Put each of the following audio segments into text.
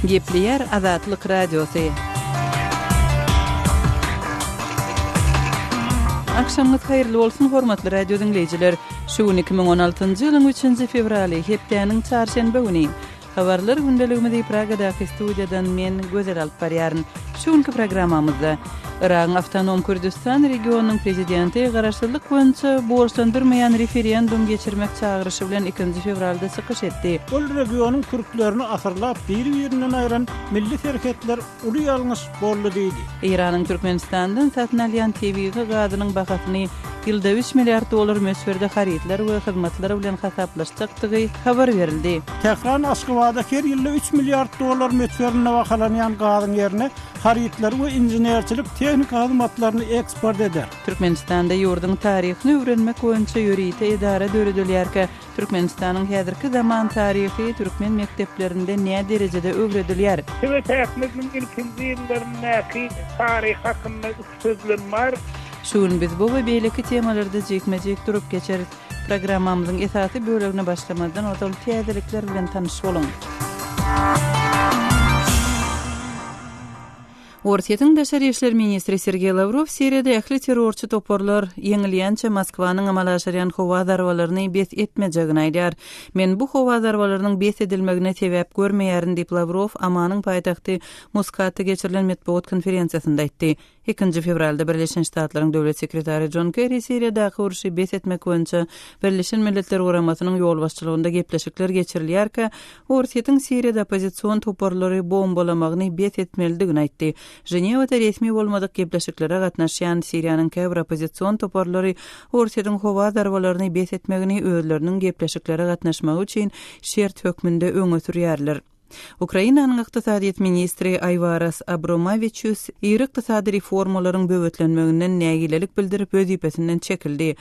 Gepleýär Azatlyk Radiosy. Agşamyňyz haýyrly bolsun hormatly radio diňleýjiler. Şu gün iki müň on altynjy ýylyň üçünji fewraly, hepdäniň çarşenbe güni. Habarlar gündeligimizi Pragadaky studiýadan men Gözel alyp barýaryn. Şu günki programmamyzda Yragyň Awtonom Kürdüstan regionynyň prezidenti garaşsyzlyk boýunça borçlandyrmaýan referendum geçirmek çagyryşy bilen ikinji fewralda çykyş etdi. Ol regionyň kürtlerini asyrlap biri-birinden aýran milli serhetler Uly ýalňyş boldy diýdi. Eýranyň Türkmenistandan satyn alýan tebigy gazynyň bahasyny ýylda üç milliard dollar möçberde harytlar we hyzmatlar bilen hasaplaşjakdygy habar berildi. Tähran Aşgabada her ýylda üç milliard dollar möçberinde bahalanýan gazyň ýerine harytlary we inženerçilik tehnika hyzmatlaryny eksport eder. Türkmenistanda ýurduň taryhyny öwrenmek boýunça ýörite edara döredilýärkä, Türkmenistanyň häzirki zaman taryhy türkmen mekdeplerinde näderejede öwredilýär? Size täkmediň ilkinji ýyllaryndaky taryh hakynda üç sözlem bar. Şu gün biz bu we beýleki temalarda jikme-jik durup geçeris. Programmamyzyň esasy bölegine başlamazdan ozal täzelikler bilen tanyş boluň. Orsýetiň daşary işler ministri Sergeý Lawrow Siriýada ähli terrorçy toparlar ýeňilýänçä Moskwanyň amala aşyrýan howa zarbalaryny bes etmejegini aýdýar. Men bu howa zarbalarynyň bes edilmegine sebäp görmeýärin diýip Lawrow Omanyň paýtagty Muskatda geçirilen metbugat konferensiýasynda aýtdy. Ikinji fewralda Birleşen Ştatlaryň döwlet sekretary Jon Kerri Siriýadaky urşy bes etmek boýunça Birleşen Milletler Guramasynyň ýolbaşçylygynda gepleşikler geçirilýärkä Orsýetiň Siriýada oppozision toparlary bombalamagyny bes etmelidigini aýtdy. Ženewada resmi bolmadyk gepleşiklere gatnaşýan Siriýanyň käbir oppozision toparlary Orsýetiň howa zarbalaryny bes etmegini özleriniň gepleşiklere gatnaşmagy üçin şert hökmünde öňe sürýärler. Ukrainanyň ykdysadyýet ministri Aýwaras Abromawiçius iri ykdysady reformalaryň böwetlenmeginden nägilelik bildirip wezipesinden çekildi.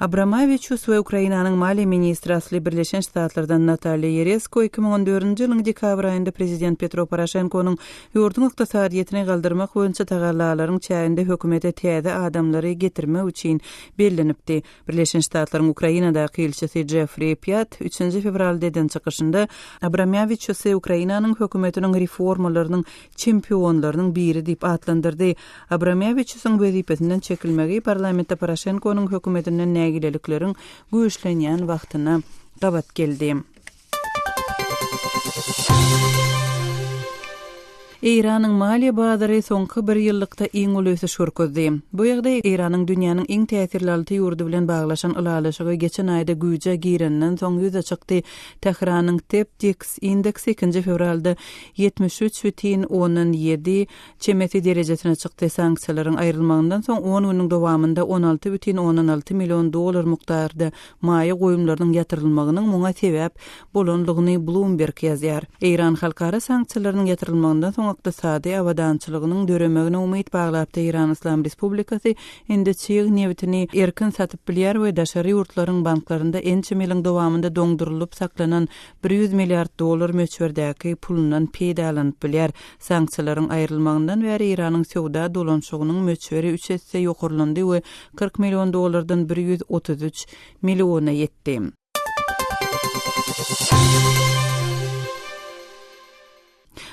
Abramowiçus we Ukrainanyň maliýe ministri asly Birleşen Ştatlardan Natalýa Ýeresko iki müň on dördünji ýylyň dekabr aýynda prezident Petro Poroşenkonyň ýurduň ykdysadyýetini galdyrmak boýunça tagallalaryň çäginde hökümete täze adamlary getirmek üçin bellenipdi. Birleşen Ştatlaryň Ukrainadaky ilçisi Jeffri Pýat üçünji fewralda eden çykyşynda Abramowiçusy Ukrainanyň hökümetiniň reformalarynyň çempionlarynyň biri diýip atlandyrdy. Abramewiçusyň wezipesinden çekilmegi parlamentde Poroşenkonyň hökümetinden nägilelikleriň güýçlenýän wagtyna gabat geldi. Eýranyň maliýe bazary soňky bir ýyllykda iň uly ösüş görkezdi. Bu ýagdaý Eýranyň dünýäniň iň täsirli alty ýurdy bilen baglaşan ylalaşygy geçen aýda güýje gireninden soň ýüze çykdy. Tähranyň TEPDIX indeksi ikinji fewralda ýetmiş üç bütin ondan ýedi çemesi derejesine çykdy, sanksiýalaryň aýrylmagyndan soň on günüň dowamynda on alty bütin ondan alty million dollar mukdarda maýa goýumlarynyň ýatyrylmagynyň muňa sebäp bolanlygyny Bloomberg ýazýar. Eýran halkara sanksiýalarynyň ýatyrylmagyndan soň ykdysady abadançylygynyň döremegine umyt baglapdy, Eýran Yslam Respublikasy indi çig nebitini erkin satyp bilýär we daşary ýurtlaryň banklarynda ençeme ýylyň dowamynda doňdurylyp saklanan bir ýüz milliard dollar möçberdäki pulundan peýdalanyp bilýär. Sanksiýalaryň aýrylmagyndan bäri Eýranyň söwda dolanşygynyň möçberi üç esse ýokarlandy we kyrk million dollardan bir ýüz otuz üç milliona ýetdi.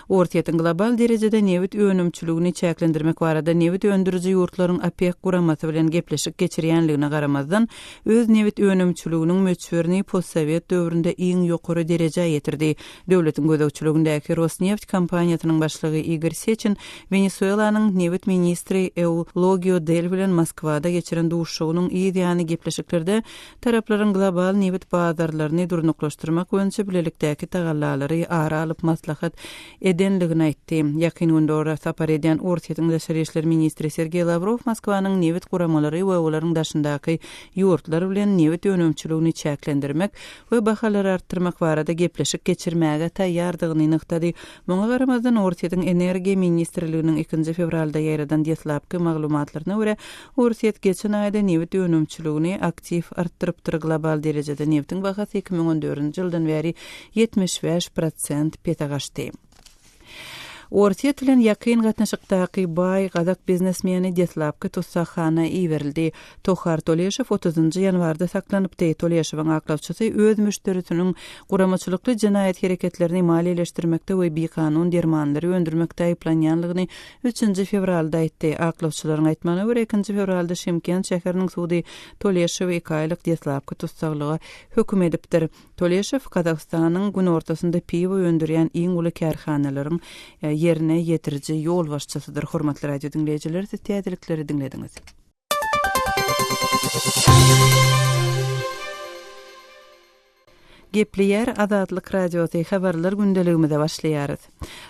Orsýetiň global derejede nebit önümçiligini çäklendirmek barada nebit öndüriji ýurtlaryň OPEC guramasy bilen gepleşik geçirýänligine garamazdan, öz nebit önümçiliginiň möçberini postsowet döwründe iň ýokary derejä ýetirdi. Döwletiň gözegçiligindäki Rosneft kompaniýasynyň başlygy Igor Seçin Wenesuelanyň nebit ministri Eulogio Del bilen Moskwada geçiren duşuşygynyň yz ýany gepleşiklerde Taraplaryň global nebit bazarlaryny durnuklaşdyrmak boýunça bilelikdäki tagallalary ara alyp maslahat edendigini aýtdy. Ýakyn günde ora sapar edýän Orsýetiň daşary işler ministri Sergeý Lawrow Moskwanyň nebit guramalary we olaryň daşyndaky ýurtlar bilen nebit önümçiligini çäklendirmek we bahalary artdyrmak barada gepleşik geçirmäge taýýardygyny nygtady. Muňa garamazdan, Orsýetiň energiýa ministrliginiň ikinji fewralda ýaýradan deslapky maglumatlaryna görä, Orsýet geçen aýda nebit önümçiligini aktiw artdyrypdyr, global derejede nebtiň bahasy iki müň on dördünji ýyldan bäri ýetmiş bäş prosent pese gaçdy. Orsýet bilen ýakyn gatnaşykdaky baý gazak biznesmeni deslapky tussaghana iberildi. Tohar Toleşow otuzynjy ýanwarda saklanypdy. Toleşowyň aklawçysy öz müşderisiniň guramaçylykly jenaýat hereketlerini maliýeleşdirmekde we bikanun dermanlary öndürmekde aýyplanýanlygyny Üçünji fewralda aýtdy. Aklawçylaryň aýtmagyna görä, ikinji fewralda Şymkent şäheriniň sudy Tolýaşowy iki aýlyk deslapky tussaglyga höküm edipdir. Tolýaşow Gazagystanyň günortasynda piwo öndürýän iň uly kärhanalaryň ýerine ýetiriji ýolbaşçysydyr. Hormatly radio diňleýjiler, siz täzelikleri diňlediňiz. Gepleýär Azatlyk Radiosy, Habarlar gündeligimize başlaýarys.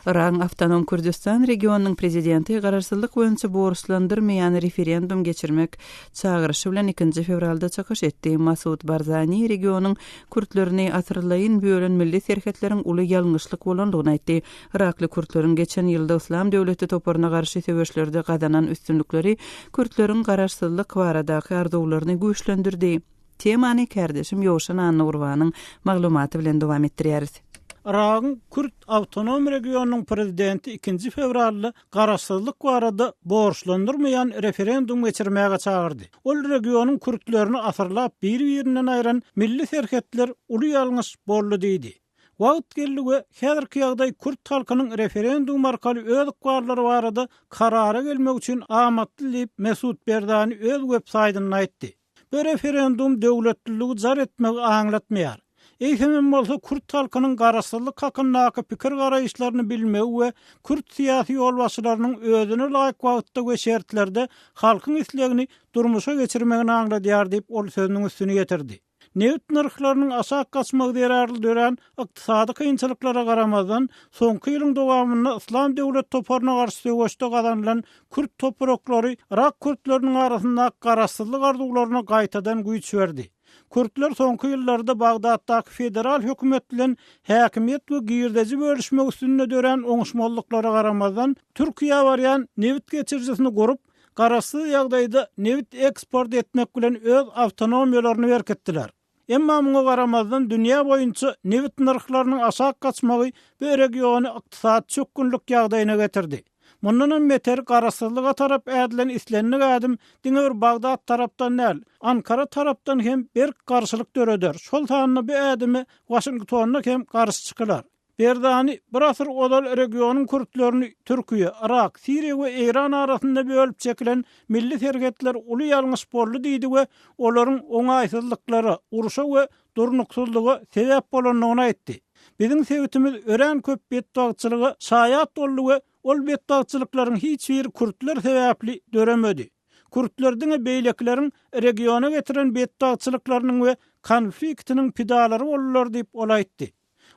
Yragyň Awtonom Kürdüstan regionynyň prezidenti garaşsyzlyk boýunça borçlandyrmaýan referendum geçirmek çagyryşy bilen ikinji fewralda çykyş etdi. Masud Barzani regionyň kürtlerini asyrlaýyn bölen milli serhetleriň uly ýalňyşlyk bolandygyny aýtdy. Yrakly kürtleriň geçen ýylda Yslam döwleti toparyna garşy söweşlerde gazanan üstünlikleri kürtleriň garaşsyzlyk baradaky arzuwlaryny güýçlendirdi. Temany kärdeşim Ýowşan Annagurbanyň maglumaty bilen dowam etdirýäris. Yragyň kürt awtonom regionynyň prezidenti ikinji fewralda garaşsyzlyk barada borçlandyrmaýan referendum geçirmäge çagyrdy. Ol regionyň kürtlerini asyrlap bir-birinden aýran milli serhetler uly ýalňyş boldy diýdi. Wagt geldi we häzirki ýagdaý kürt halkynyň referendum arkaly öz ykballary barada karara gelmegi üçin amatly diýip, Mesut Berdani öz web saýtynda aýtdy. Bu referendum döwletliligi jar etmegi aňlatmaýar. Eýsemem bolsa kürt halkynyň garaşsyzlyk hakyndaky pikir-garaýyşlaryny bilmegi we kürt syýasy ýolbaşçylarynyň özüne laýyk wagtda we şertlerde halkyň islegini durmuşa geçirmegini aňladýar diýip, ol sözüniň üstüni ýetirdi. Nebit nyrhlarynyň aşak gaçmagy zerarly dörän ykdysady kynçylyklara garamazdan, soňky ýylyň dowamynda Yslam döwlet toparyna garşy söweşde gazanylan kürt topraklary yrak kürtleriniň arasyndaky garaşsyzlyk arzuwlaryna gaýtadan güýç berdi. Kürtler soňky ýyllarda Bagdatdaky federal hökümet bilen häkimiýet we girdeji bölüşmek üstünde dörän oňuşmazlyklara garamazdan, Türkiýä barýan nebit geçirijisini gurup, garaşsyz ýagdaýda nebit eksport etmek bilen öz awtonomiýalaryny berkitdiler. Emma muňa garamazdan dünýä boýunça nebit nyrhlarynyň aşak gaçmagy bu regiony ykdysady çökgünlik ýagdaýyna getirdi. Mundanam beter garaşsyzlyga tarap ädilen islendik ädim diňe bir Bagdat tarapdan däl, Ankara tarapdan hem berk garşylyk döreder, şol sanda bu ädime Waşingtonda hem garşy çykylar. Berzani bir asyr ozal regionyň kürtlerini Türkiýe, Yrak, Siriýa we Eýran arasynda bölüp çekilen milli serhetler uly ýalňyş boldy diýdi we olaryň oňaýsyzlyklara, urşa we durnuksyzlyga sebäp bolandygyny aýtdy. Biziň sebitimiz örän köp betbagtçylyga şaýat boldy we ol betbagtçylyklaryň hiç biri kürtler sebäpli döremedi. Kürtler diňe beýlekileriň regiona getiren betbagtçylyklarynyň we konfliktiniň pidalary boldular diýip, ol aýtdy.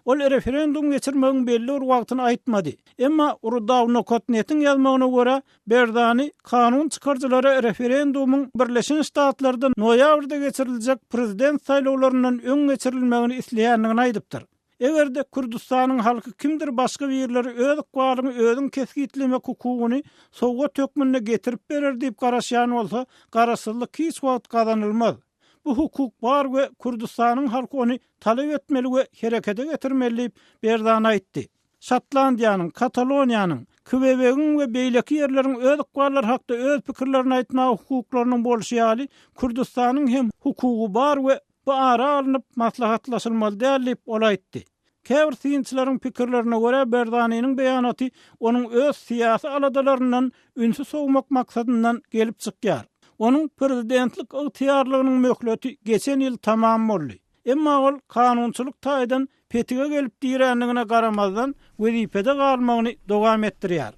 Ol referendum geçirmegiň belli bir wagtyny aýtmady. Emma Rudawnokodnetiň ýazmagyna görä, Berzani kanun çykaryjylara referendumyň Birleşen Ştatlarda noýabrda geçiriljek prezident saýlawlaryndan öň geçirilmegini isleýändigini aýdypdyr. Eger-de Kürdüstanyň halky kimdir başga birleri öz ykbalyňy özüň kesgitlemek hukugyny sowgat hökmünde getirip berer diýip garaşýan bolsa, garaşsyzlyk hiç wagt gazanylmaz. Bu hukuk bar we Kürdüstanyň halky ony talap etmeli we herekete getirmeli diýip, Berzan aýtdy. Şotlandiýanyň, Kataloniýanyň, Kwebegiň we beýleki ýerleriň öz ykballary hakda öz pikirlerini aýtmaga hukuklarynyň bolşy ýaly, Kürdüstanyň hem hukugy bar we bu ara alnyp maslahatlaşylmaly däl diýip, ol aýtdy. Käbir synçylaryň pikirlerine görä, Berzaniniň beýanaty onuň öz syýasy aladalaryndan ünsi sowmak maksadyndan gelip çykýar. Onuň prezidentlik ygtyýarlygynyň möhleti geçen ýyl tamam boldy. Emma ol kanunçylyk taýdan petige gelip dirändigine garamazdan, wezipede galmagyny dowam etdirýär.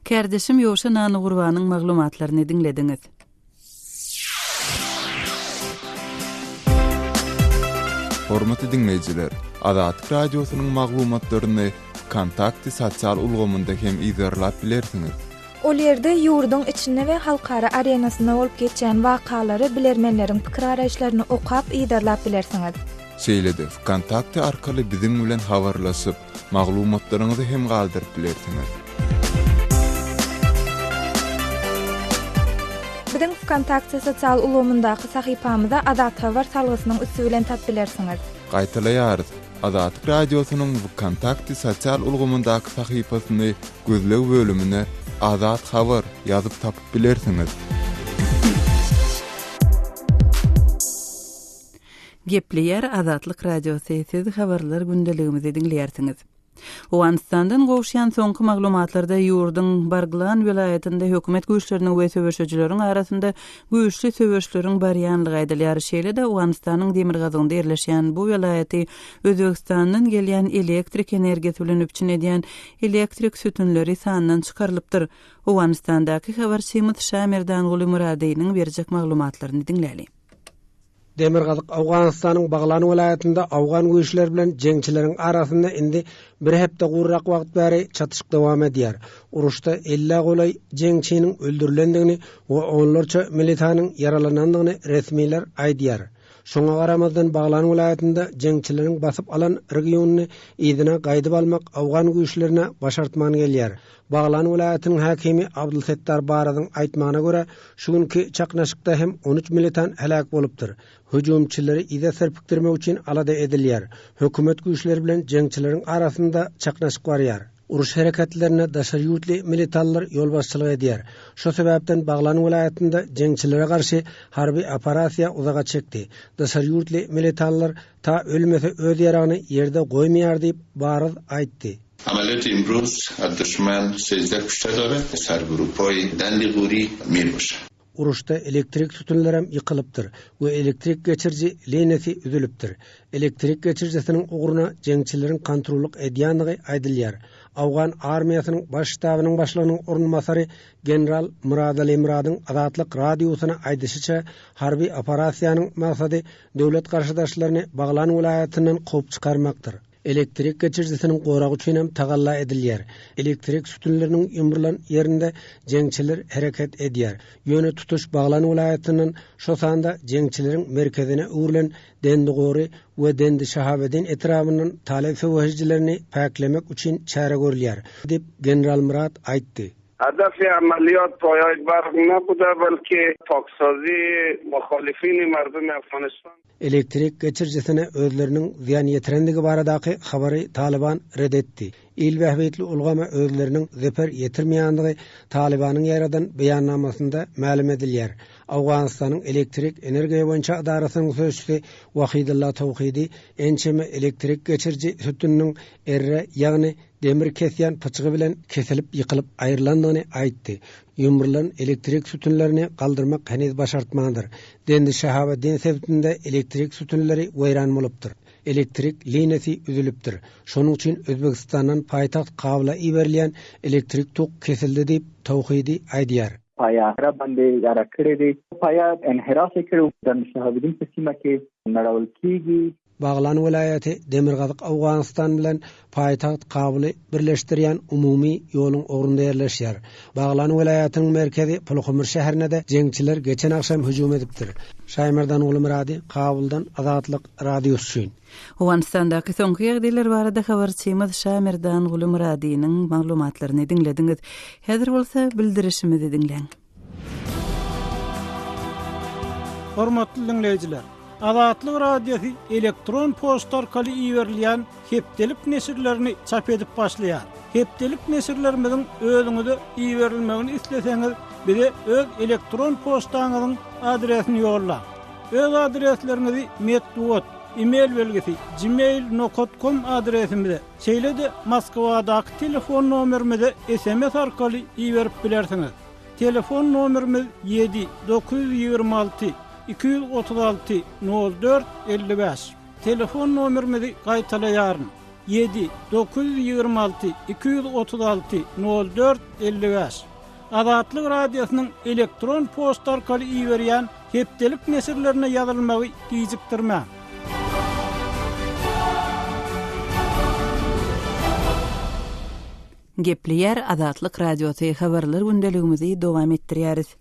Kärdeşim Ýoşa Nanugurbanyň maglumatlaryny diňlediňiz. Hormatly diňleýjiler, Azatlyk Radiosynyň maglumatlaryny Wkontakte sosial ulgamynda hem yzarlap bilersiňiz. Ol ýerde ýurduň içinde we halkara arenasynda bolup geçýän wakalary, bilermenleriň pikir-araýyşlaryny okap, yzarlap bilersiňiz. Şeýle-de, Wkontakte arkaly biziň bilen habarlaşyp, maglumatlaryňyzy hem galdyryp bilersiňiz. Biziň Vkontakte sosial ulgamyndaky sahypamyza Azat Habar salgysynyň üsti bilen tap bilersiňiz. Gaýtalaýarys, Azatlyk Radiosynyň Vkontakte sosial ulgamyndaky sahypasyny gözleg bölümine Azat Habar ýazyp tapyp bilersiňiz. Gepleýär Azatlyk Radiosy, siz habarlar gündeligimizi diňleýärsiňiz. Owganystandan gowuşýan soňky maglumatlarda ýurduň Barglan welaýatynda hökümet güýçleriniň we söweşijileriň arasynda güýçli söweşleriň barýanlygy aýdylýar, şeýle-de Owganystanyň demirgazygynda ýerleşýän bu welaýaty Özbegistandan gelýän elektrik energiýasy bilen üpjün edýän elektrik sütünleri sandan çykarylypdyr. Owganystandaky habarçymyz Şamerdanguly Myradynyň berjek maglumatlaryny diňläli. Demirgazyk Owganystanyň Baglan welaýatynda owgan güýçleri bilen jeňçileriň arasynda indi bir hepde gurrak wagt bäri çatyşyk dowam edýär. Uruşda ellä golaý jeňçiniň öldürilendigini we onlarça militanyň ýaralanandygyny resmiler aýdýar. Şoňa garamazdan Baglan welaýatynda jeňçileriň basyp alan regionyny yzyna gaýdyp almak owgan güýçlerine başartman gelýär. Baglan welaýatynyň häkimi Abdulsettar Barazyň aýtmagyna görä, şu günki çaknaşykda hem on üç militan heläk bolupdyr. Hüjümçileri yza serpikdirmek üçin alada edilýär. Hökümet güýçleri bilen jeňçileriň arasynda çaknaşyk barýar. Uruş hereketlerine daşary ýurtly militanlar ýolbaşçylyk edýär. Şo sebäpden Baglan welaýatynda jeňçilere garşy harby operasiýa uzaga çekdi. Daşary ýurtly militanlar Ta ölmese öz ýaragyny ýerde goýmaýar diýip Baryz aýtdy. Amalet imruz ad duşman sejde küşte dora sar guru poý dandi guri mir boş. Uruşda elektrik sütünlerem ýykylypdyr we elektrik geçiriji liniýasy üzülipdir. Elektrik geçirijisiniň ugruna jeňçileriň kontrollyk edýänligi aýdylýar. Awgan armiýasynyň Baş ştabynyň başlygynyň orunbasary general Myradali Myradyň Azatlyk Radiosyna aýdyşyça, harby operasiýanyň maksady Döwlet garşydaşlaryny Baglan welaýatyndan kowup çykarmakdyr. Elektrik geçirijisiniň goragy üçin hem tagalla edilýär. Elektrik sütünleriniň ýumrulan ýerinde jeňçiler hereket edýär. Ýöne tutuş Baglan welaýatyndan, şo sanda jeňçileriň merkezine öwrülen Dendigory we Dendi-Şahabedin etrabyndan talyp söweşijilerini päklemek üçin çäre görülýär, diýip, general Myrat aýtdy. Adafi amalýot poýaý bargna buda belki toksozi muholifini mardum Afganistan. Elektrik geçirijisine özleriniň zyýan ýetirendigi baradaky habary Talyban red etdi. Il bähbitli ulgama özleriniň zeper ýetirmeýändigi Talybanyň ýaýradan beýannamasynda mälim edilýär. Owganystanyň elektrik energiýa boýunça edarasynyň sözçüsi Wahidylla Towhidi ençeme elektrik geçiriji sütüniniň erre, ýagny demir kesýän pyçgy bilen kesilip ýykylyp aýrylandygyny aýtdy. Ýumrulan elektrik sütünlerini galdyrmak heniz başartmandyr. Dendi Şahabeddin sebitinde elektrik sütünleri weýran bolupdyr. Elektrik liniýasy üzülipdir. Şonuň üçin Özbegistandan paýtagt Kabula iberilýän elektrik tok kesildi diýip, Towhidi aýdýar. Paýa enhirap endi, ýarak kiredi. Paýa enhirap ekirip, Dendi Şahabeddin Tesimaki, Narawlkigi, Baglan welaýaty demirgazyk Owganystan bilen paýtagt Kabuly birleşdirýän umumy ýoluň ugrunda ýerleşýär. Baglan welaýatynyň merkezi Pulhumr şäherine-de jeňçiler geçen agşam hüjüm edipdir. Şaýmardan Gulumyrady, Kabuldan, Azatlyk Radiosy üçin. Owganystandaky soňky ýagdaýlar barada habarçymyz Şaýmardan Gulumyradynyň maglumatlaryny diňlediňiz. Häzir bolsa bildirişimizi diňläň. Hormatly diňleýjiler! Azatlyk Radiosy elektron poçta arkaly iberilýän hepdelik neşirlerini çap edip başlaýar. Hepdelik neşirlerimiziň özüňize iberilmegini isleseňiz, bize öz elektron poçtaňyzyň adresini ýollaň. Öz adresleriňizi metbugat, e-mail belgisi, gmail nokot kom adresimize, Şeýle-de Moskwadaky telefon nomerimize sms arkaly iberip bilersiňiz. Telefon nomerimiz ýedi, dokuz ýüz ýigrimi alty, iki ýüz otuz alty, nol dört, elli bäş. Telefon nomerimizi gaýtalaýaryn, ýedi, dokuz ýüz ýigrimi alty, iki ýüz otuz alty, nol dört, elli bäş. Azatlyk Radiosynyň elektron poçta arkaly iberýän hepdelik neşirlerine ýazylmagy gijikdirmäň. Gepleýär Azatlyk Radiosy habarlar gündeligimizi dowam etdirýäris.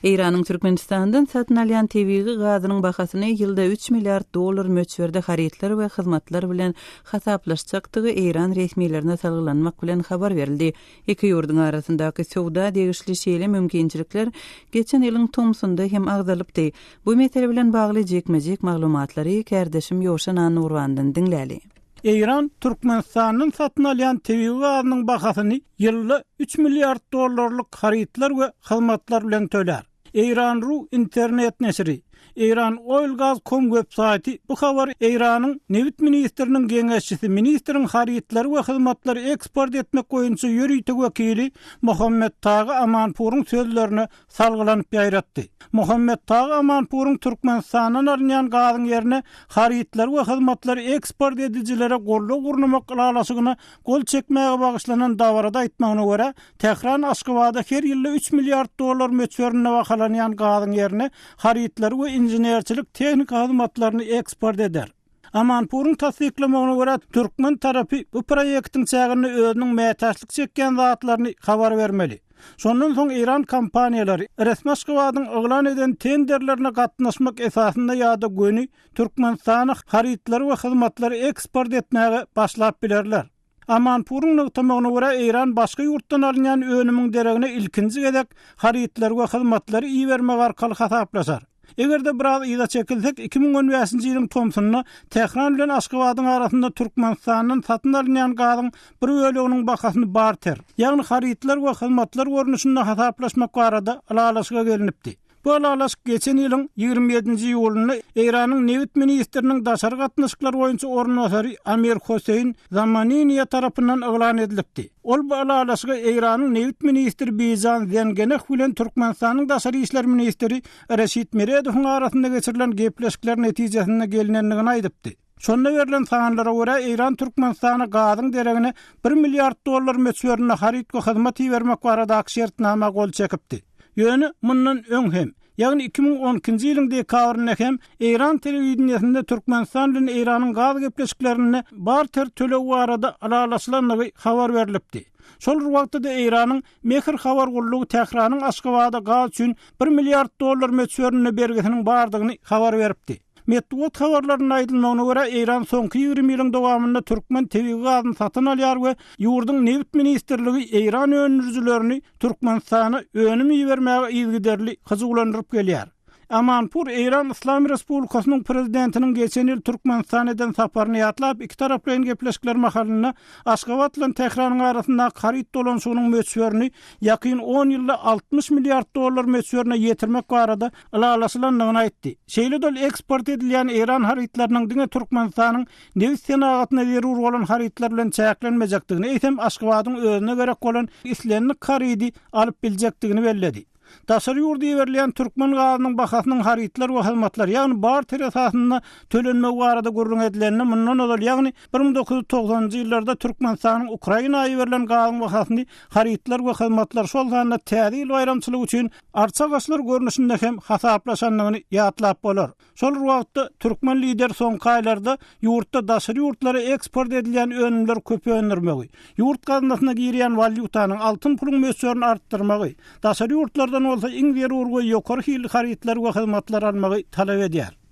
Eýranyň Türkmenistandan satyn alýan tebigy gazynyň bahasyny ýylda üç milliard dollar möçberde harytlar we hyzmatlar bilen hasaplaşjakdygy eýran resmilerine salgylanmak bilen habar berildi. Iki ýurduň arasyndaky söwda degişli şeýle mümkinçilikler geçen ýylyň tomsunda hem agzalypdy. Bu mesele bilen bagly jikme-jik maglumatlary kärdeşim Ýowşan Annurwandan diňläli. Eýran Türkmenistandan satyn alýan tebigy gazynyň bahasyny ýylda üç milliard dollarlyk harytlar we hyzmatlar bilen tölär. Eýran.ru internet neşiri, Eýran Oil Gaz Com web saýty bu habary Eýranyň Nebit ministriniň geňeşçisi, ministriň harytlary we hyzmatlary eksport etmek boýunça ýörite wekili Mohammed Tagy Amanpuryň sözlerine salgylanyp ýaýratdy. Mohammed Tagy Amanpuryň Türkmenistandan alynýan gazyň ýerine harytlary we hyzmatlary eksport edijilere goldaw gurnamak ylalaşygyna gol çekmäge bagyşlanan dabarada aýtmagyna görä, Tähran Aşgabada her ýylda üç milliard dollar möçberinde bahalanýan gazyň ýerine harytlary we inženerçilik tehniki hyzmatlaryny eksport eder. Amanpuryň tassyklamagyna görä, türkmen tarapy bu proýektiň çäginde özüniň mätäçlik çekýän zatlaryny habar bermeli. Şondan soň eýran kompaniýalary resmiAşgabadyň yglan eden tenderlerine gatnaşmak esasynda ýa-da göni Türkmenistana harytlary we hyzmatlary eksport etmäge başlap bilerler. Amanpuryň nygtamagyna görä, Eýran başga ýurtdan alynýan önümiň deregine ilkinji gezek harytlary we hyzmatlary ibermek arkaly hasaplaşar. Eger-de biraz yza çekilsek, iki müň on bäşinji ýylyň tomsunda Tähran bilen Aşgabadyň arasynda Türkmenistandan satyn alynýan gazyň bir böleginiň bahasyny barter, ýagny harytlar we hyzmatlar görnüşinde hasaplaşmak barada ylalaşyga gelinipdi. Bu ylalaşyk geçen ýylyň ýigrimi ýedinji iýulynda Eýranyň nebit ministriniň daşary gatnaşyklar boýunça orunbasary Amir Hoseýn Zamaniniýe tarapyndan yglan edilipdi. Ol bu ylalaşygy Eýranyň nebit ministri Bijan Zengeneh bilen Türkmenistanyň daşary işler ministri Reşit Meredowyň arasynda geçirilen gepleşikler netijesinde gelnendigini aýdypdy. Şonda berlen sanlara görä, Eýran Türkmenistana gazyň deregine bir milliard dollar möçberinde haryt we hyzmat ibermek baradaky şertnama gol çekipdi. Ýöne mundan öň hem, ýagny iki müň on ikinji ýylyň dekabrynda hem eýran telewideniýesinde Türkmenistan bilen Eýranyň gaz gepleşiklerinde barter töleg barada ylalaşylandygy habar berlipdi. Şol bir wagtda-da Eýranyň Mehr habar gullugy Tähranyň Aşgabada gaz üçin bir milliard dollar möçberinde bergisiniň bardygyny habar beripdi. Metbugat habarlarynda aýdylmagyna görä, Eýran soňky ýigrimi ýylyň dowamynda türkmen tebigy gazyny satyn alýar we ýurduň Nebit ministrligi eýran öndürijilerini Türkmenistana önüm ibermäge yzygiderli hyjuwlandyryp gelýär. Amanpur Eýran Yslam Respublikasynyň Prezidentiniň geçen ýyl Türkmenistana eden saparyny ýatlap, ikitaraplaýyn gepleşikler mahalynda Aşgabat bilen Tähranyň arasyndaky haryt dolanyşygynyň möçberini ýakyn on ýylda altmyş milliard dollar möçberine ýetirmek barada ylalaşylandygyny aýtdy. Şeýle-de ol eksport edilýän eýran harytlarynyň diňe Türkmenistanyň nebit senagatyna zerur bolan harytlar bilen çäklenmejekdigini, eýsem Aşgabadyň özüne gerek bolan islendik harydy alyp biljekdigini belledi. Daşary ýurda iberilýän türkmen gazynyň bahasynyň harytlar we hyzmatlar, ýagny barter esasynda tölenmegi barada gürrüň edilende mundan ozal, ýagny bir müň dokuz ýüz togsanynjy ýyllarda Türkmenistanyň Ukraina iberilen gazyň bahasyny harytlar we hyzmatlar, şol sanda Täze ýyl baýramçylygy üçin arçagaçlar görnüşinde hem hasaplaşandygyny ýatlap bolar. Şol bir wagtda, türkmen lideri soňky aýlarda ýurtda daşary ýurtlara eksport edilýän önümleri köp öndürmegi, ýurt gaznasyna girýän walýutanyň, altyn puluň möçberini artdyrmagy, daşary ýurtlardan bolsa iň zerur we ýokary hilli harytlary we hyzmatlary almagy talap edýär.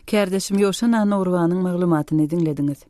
Kärdeşim Ýowşan Annagurbanyň maglumatyny diňlediňiz.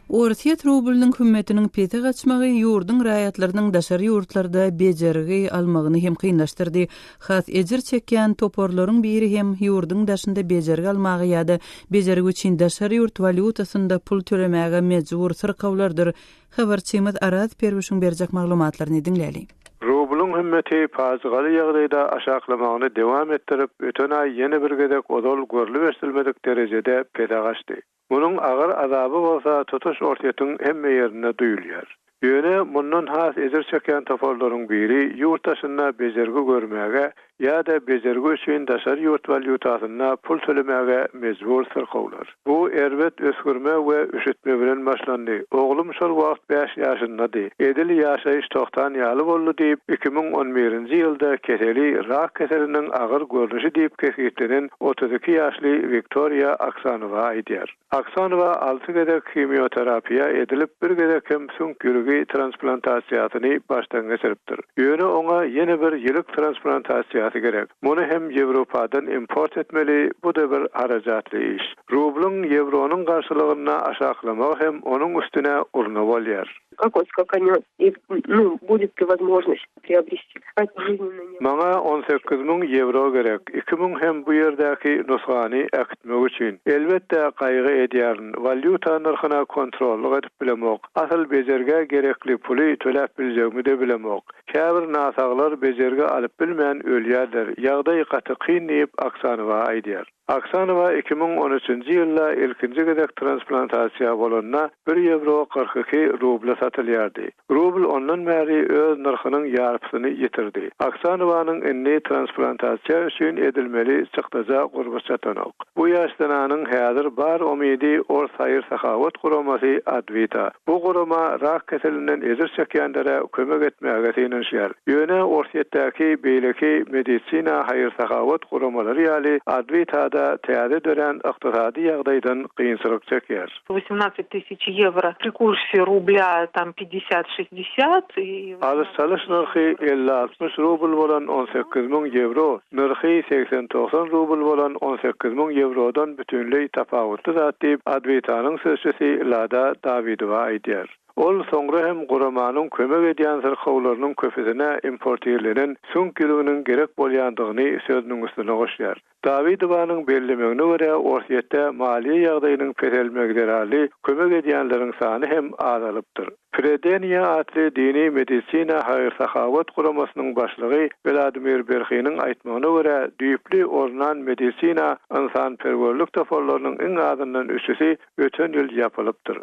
Orsýet rublynyň hümmetiniň pese gaçmagy ýurduň raýatlarynyň daşary ýurtlarda bejergi almagyny hem kynlaşdyrdy. Has ejir çekýän toparlaryň biri hem ýurduň daşynda bejergi almaga ýa-da bejergi üçin daşary ýurt walýutasynda pul tölemäge mejbur syrkawlardyr. Habarçymyz Araz Perwişiň berjek maglumatlaryny diňläliň. Rublyň hümmeti pajygaly ýagdaýda aşaklamagyny dowam etdirip, öten aý ýene bir gezek ozal görlüp-eşdilmedik derejede pese gaçdy. Munuň agyr azaby bolsa tutuş Orsýetiň hemme ýerinde duýulýar. Ýöne mundan has ejir çekýän toparlaryň biri ýurt daşynda bejergi görmäge ýa-da bejergi üçin daşary ýurt walýutasynda pul tölemäge mejbur syrkawlar. Bu erbet ösgürme we üşütme bilen başlandy. Oglum şol wagt bäş ýaşyndady. Edil ýaşaýyş togtan ýaly boldy diýip, iki müň on birinji ýylda keseli rak keseliniň agyr görnüşi diýip kesgitlenen otuz iki ýaşly Wiktoriýa Aksanowa aýdýar. Aksonowa alty gezek himioterapiýa edilip, bir gezek hem süňk ýüregi transplantasiýasyny başdan geçiripdir. Ýöne oňa ýene bir ýürek transplantasiýasy gerek. Muny hem Ýewropadan import etmeli, bu-da bir harajatly iş. Rublyň ýewronyň garşylygyny aşaklamagy hem onuň üstüne urna bolýar. Kakos, kak onýa ir, nu, budit ti wozmoznost priobrisdi kat žilnina nje. Maňa on sekiz müň ýewro gerek, iki müň hem bu ýerdäki nusgany äkitmek üçin. Elbetde, gaýgy edýärin, walýuta nyrhyna kontrollyk edip bilemok, asyl bejergä gerekli puly töläp biljegimi-de bilemok. Käbir nasaglar bejergi alyp bilmän ölýärler, ýagdaý gaty kyn diýip, Oksanowa aýdýar. Aksanowa iki müň on üçünji ýylda ilkinji gezek transplantasiýa bolanda bir ýewro kyrk iki rubla satylýardy. Rubl ondan bäri öz nyrhynyň ýarpysyny ýitirdi. Aksanowanyň indi transplantasiýa üçin edilmeli çykdaja gurby çatanok. Bu ýaş zenanyň häzir bar umydy ors haýyr-sahawat guramasy Advita. Bu gurama rak keselinden ejir çekýänlere kömek etmäge synanyşýar. Ýöne Orsýetdäki beýleki medisina, haýyr-sahawat guramalary ýaly Adwitada täze dörän ykdysady ýagdaýdan kynçylyk çekýär. Wosýmnacet tysyç ýewro pri kursi rublýa tam pidesýat-şestdesýat i. Alyş-çalyş nyrhy elli-altmyş rubl bolan on sekiz müň ýewro, nyrhy segsen-togsan rubl bolan on sekiz müň ýewrodan bütinleý tapawutly zat diýip, Adwitanyň sözçüsi Lada Dawidowa aýdýar. Ol soňra hem guramanyň kömek edýän syrkawlarynyň köpüsine importirlenen süňk ýüňüniň gerek bolýandygyny sözüniň üstüne goşýar. Dawidowanyň bellemegine görä, Orsýetde maliýe ýagdaýynyň peselmegi zerarly kömek edýänleriň sany hem azalypdyr. Predeniýe atly dini medisina haýyr-sahawat guramasynyň başlygy Wladimir Berhiniň aýtmagyna görä, düýpli ornan medisina ynsanperwerlik toparlarynyň iň azyndan üçüsi öten ýyl ýapylypdyr.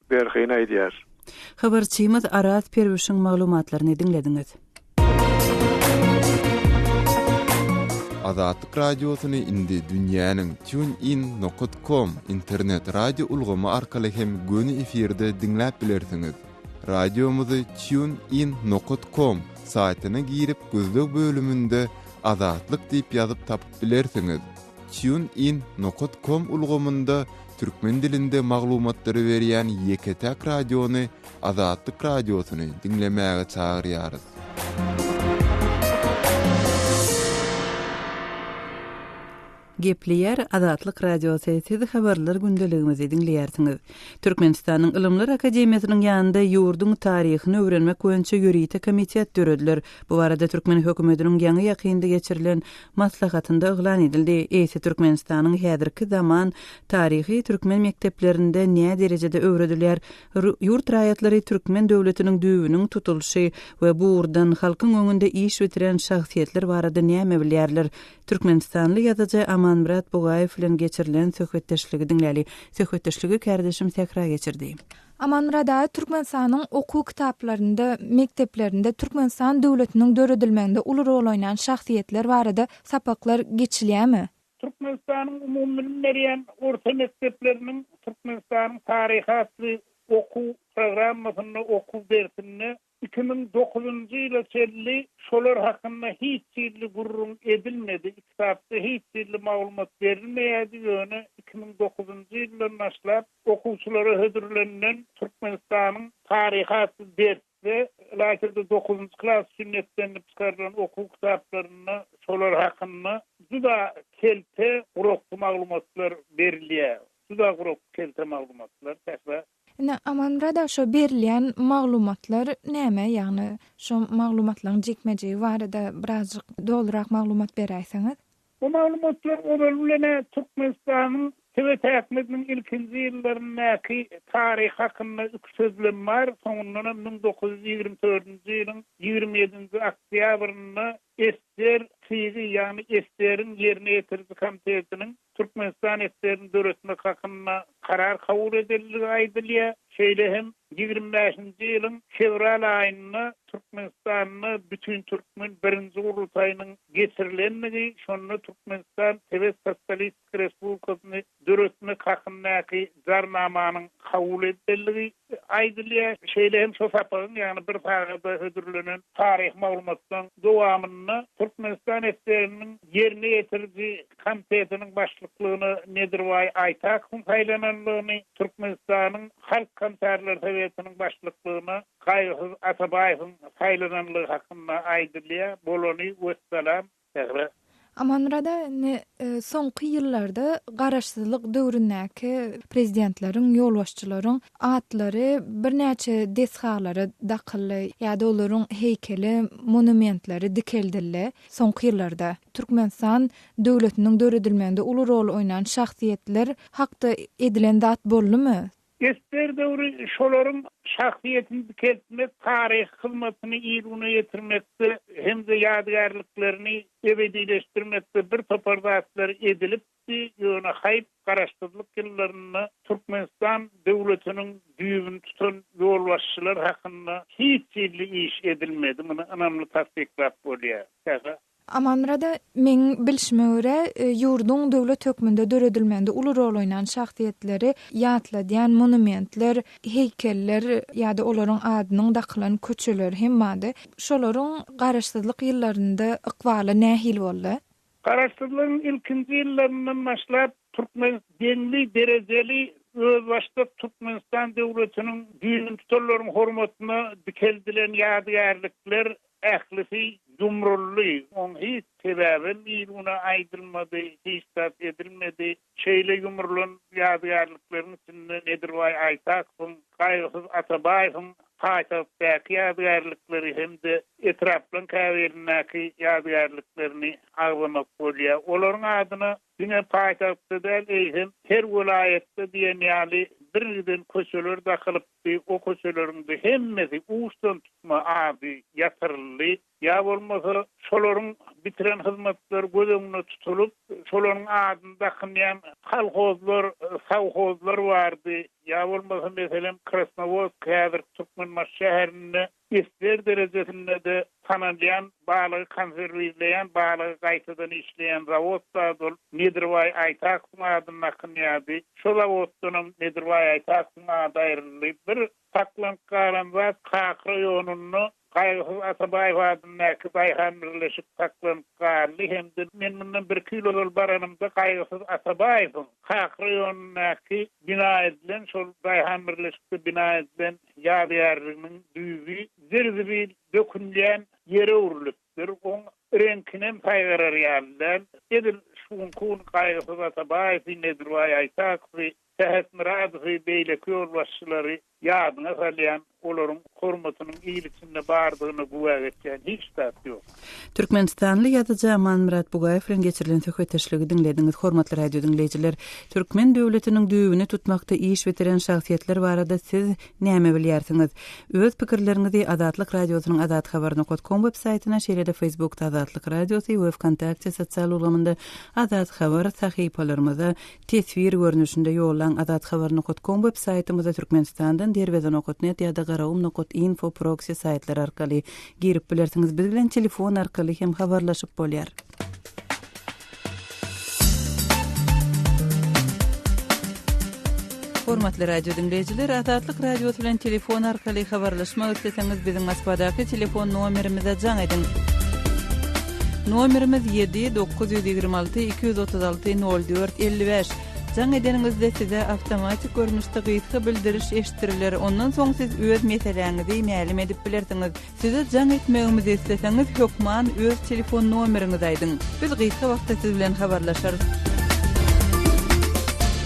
Berhiýn aýdýar. Habarçymyz Araz Perwişiň maglumatlaryny diňlediňiz. Azatlyk Radiosyny indi dünýäniň TuneIn nokat kom internet radio ulgamy arkaly hem göni efirde diňläp bilersiňiz. Radiomyzy TuneIn nokat kom saýtyna girip gözleg bölüminde Azatlyk diýip ýazyp tapyp bilersiňiz. TuneIn nokat kom ulgamynda türkmen dilinde maglumatlary berýän ýeke-täk radiony, Azatlyk Radiosyny diňlemäge çagyrýarys. Gepleýär Azatlyk Radiosy. Siz habarlar gündeligimizi diňleýärsiňiz. Türkmenistanyň Ylymlar akademiýasynyň ýanynda ýurduň taryhyny öwrenmek boýunça ýörite komitet dörediler. Bu barada türkmen hökümetiniň ýaňy-ýakynda geçirilen maslahatynda yglan edildi. Eýse Türkmenistanyň häzirki zaman taryhy türkmen mekdeplerinde nä derejede öwredilýär, ýurt raýatlary türkmen döwletiniň düýbüniň tutulyşy we bu ugurdan halkyň öňünde iş bitiren şahsyýetler barada näme bilýärler? Türkmenistanly ýazyjy Amanmyrat Bugaýew bilen geçirilen söhbetdeşligi diňläli. Söhbetdeşligi kärdeşim Sähra geçirdi. Amanmyrat aga Türkmenistanyň okuw kitaplarynda, mekdeplerinde Türkmenistan döwletiniň döredilmeginde uly rol oýnan şahsyýetler barada sapaklar geçilýärmi? Türkmenistanyň umumybilim berýän orta mekdepleriniň Türkmenistanyň taryhy atly okuw programmasynda okuw dersinde Iki müň dokuzynjy ýyla çenli şolar hakynda hiç hili gürrüň edilmedi, kitapda hiç hili maglumat berilmeýärdi, ýöne iki müň dokuzynjy ýyldan başlap okuwçylara hödürlenilen Türkmenistanyň taryhy atly dersde, lagerda dokuzynjy klas üçin nepdelenip çykarylan okuw kitaplarynda şolar hakynda juda kelte, gurakçy maglumatlar berilýär. Juda gurakçy, kelte maglumatlar, käbir. Ine, Aman brada, şo berilýän maglumatlar näme? Ýagny, şo maglumatlaryň jikme-jigi barada birazjyk dolurak maglumat beräýseňiz. Bu maglumatlar ozal bilen-ä Türkmenistanyň Sewetäkmiziniň ilkinji ýyllaryndaky taryhy hakynda iki sözlem bar, soňundanam müň dokuz ýüz ýigrimi dördünji ýylyň ýigrimi ýedinji oktýabrynda Ester Tygy, ýagny Esteriň ýerine ýetiriji komitetiniň Türkmenistan Esterini döretmek hakynda karar kabul edenligi aýdylýar. Şeýle hem ýigrimi bäşinji ýylyň fewral aýynda Türkmenistanda Bütintürkmen birinji gurultaýynyň geçirilenligi, şonda Türkmenistan Sowet Sosialistiki Sowetski Respublikasyny döretmek hakyndaky Jarnamanyň kabul edilendigi aýdylýar. Şeýle hem şu sapagyň, ýagny bir sagada hödürlenen taryhy maglumatlaryň dowamynda Türkmenistan SSR-niň Ýerine ýetiriji komitetiniň başlyklygyna Nedirbaý Aýtakowyň saýlanandygyny, Türkmenistanyň Halk Komissarlar Sowetiniň başlyklygyna Gaýgysyz Atabaýewiň saýlanandygy hakynda aýdylýar. Bolany wessalam. Mähri. Amanmyrada indi soňky ýyllarda garaşsyzlyk döwründäki prezidentleriň, ýolbaşçylaryň atlary birnäçe desgalara dakyldy ýa-da olaryň heýkeli, monumentleri dikeldildi. Soňky ýyllarda Türkmenistan döwletiniň döredilmeginde uly rol oýnan şahsyýetler hakda edilen zat boldumy? Ester döwri şolaryň şahsyýetini dikeltmek, taryhy hyzmatyny il güne ýetirmekde hem-de ýadygärliklerini ebedileşdirmekde bir topar zatlar edilipdi, ýöne haýp, garaşsyzlyk ýyllarynda Türkmenistan döwletiniň düýbüni tutan ýolbaşçylar hakynda hiç hilli iş edilmedi, muny ynamly tassyklap bolýar. Amanmyrada, meň bilşime görä, ýurduň döwlet hökmünde döredilmeginde uly rol oýnan şahsyýetleri ýatladýan monumentler, heýkeller ýa-da olaryň adynyň dakylan köçeler hem bardy. Şolaryň Garaşsyzlyk ýyllarynda ykbaly nähili boldy? Garaşsyzlygyň ilkinji ýyllaryndan başlap, türkmen deňli derejeli özbaşdak Türkmenistan döwletiniň düýnüntutanlaryň hormatyna dikeldilen ýadygärlikler Ählisi ýumruldy. Oň hiç sebäbem il-güne aýdylmady, hiç zat edilmedi. Şeýle ýumrulan ýadygärlikleriň içinde Nedirbaý Aýtakowyň, Gaýgysyz Atabaýewiň paýtagtdaky ýadygärlikleri hem-de etraplaryň käbirindäki ýadygärliklerini agzamak bolýar. Olaryň adyna Diňe paýtagtda däl, eýsem, her welaýatda diýen ýaly birgiden köçeler dakylypdy, o köçeleriň-de hemmesi uçdan tutma ady ýatyryldy. Ýa bolmasa, şolaryň bitiren hyzmatlary göz öňünde tutulyp, şolaryň adyny dakynýan kolhozlar, sowhozlar bardy. Ýa bolmasa, meselem, Krasnowodsk, häzirki Türkmenbaşy şäherinde Isler derejesinde-de tanalýan balygy konserwirleýän, balygy gaýtadan işleýän zawod-da ol Nedirbaý Aýtakowyň adynda akynýardy. Şo zawoddanam Nedirbaý Aýtakowyň ady aýryldy. Bir saklanyp galan zat Kak raýonynda Gaýgysyz Atabaýew adyndaky daýhan birleşik saklanyp galdy hem-de men mundan birki ýyl ozal baranymda Gaýgysyz Atabaýewiň Kak raýonyndaky bina edilen, şol daýhan birleşikde bina edilen, Ýadygärliginiň düýbi zir-zibil dökünýän ýere öwrülipdir. Oň reňkinem saýgarar ýaly däl. Edil şu günki gün Gaýgysyz Atabaýewi, Nedirbaý Aýtakowy, Sähet Myradowy, beýleki ýolbaşçylary ýadyňa salýan, olaryň hormatynyň il içinde bardygyna güwä geçýän hiç zat ýok. Türkmenistanly ýazyjy Amanmyrat Bugaýew bilen geçirilen söhbetdeşligi diňlediňiz. Hormatly radio diňleýjiler, türkmen döwletiniň düýbüni tutmakda iş bitiren şahsyýetler barada siz näme bilýärsiňiz? Öz pikirleriňizi Azatlyk Radiosynyň azathabar nokat kom web saýtyna, şeýle-de Facebookda Azatlyk Radiosy we Wkontakte sosial ulgamynda Azat Habar sahypalarymyza Teswir görnüşinde ýollaň Azat Haber nokat kom web saýtymyza Türkmenistandan Derweze nokat net ýa-da Garagum nokat info proksi saýtlary arkaly girip bilersiňiz biz bilen telefon arkaly hem habarlaşyp bolýar. Hormatly radio diňleýjiler Azatlyk radiosy bilen telefon arkaly habarlaşmak isleseňiz biziň Moskwadaky telefon nomerimize jaň ediň. Nomerimiz ýedi, dokuz ýüz ýigrimi alty, iki ýüz otuz alty, nol dört, elli bäş. Jaň edeniňizde size awtomatik görnüşde gysga bildiriş eşitdiriler, ondan soň siz öz meseläňizi mälim edip bilersiňiz. Size jaň etmegimizi isleseňiz, hökman öz telefon nomeriňizi aýdyň. Biz gysga wagtda siz bilen habarlaşarys.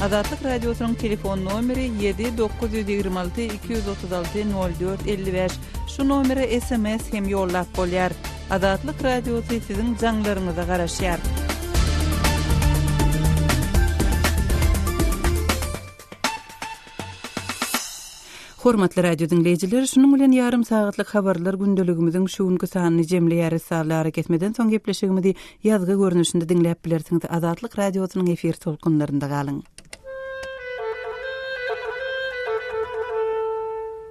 Azatlyk Radiosynyň telefon nomeri ýedi, dokuz ýüz ýigrimi alty, iki ýüz otuz alty, nol dört, elli bäş. Şu nomere sms hem ýollap bolýar. Azatlyk Radiosy siziň jaňlaryňyza garaşýar. Hormatly radio diňleýjiler, şunuň bilen ýarym sagatlyk habarlar gündeligimiziň şu günki sanyny jemleýäris. Sally ara kesmeden soň gepleşigimizi ýazgy görnüşinde diňläp bilersiňiz. Azatlyk radiosynyň efir tolkunlarynda galyň.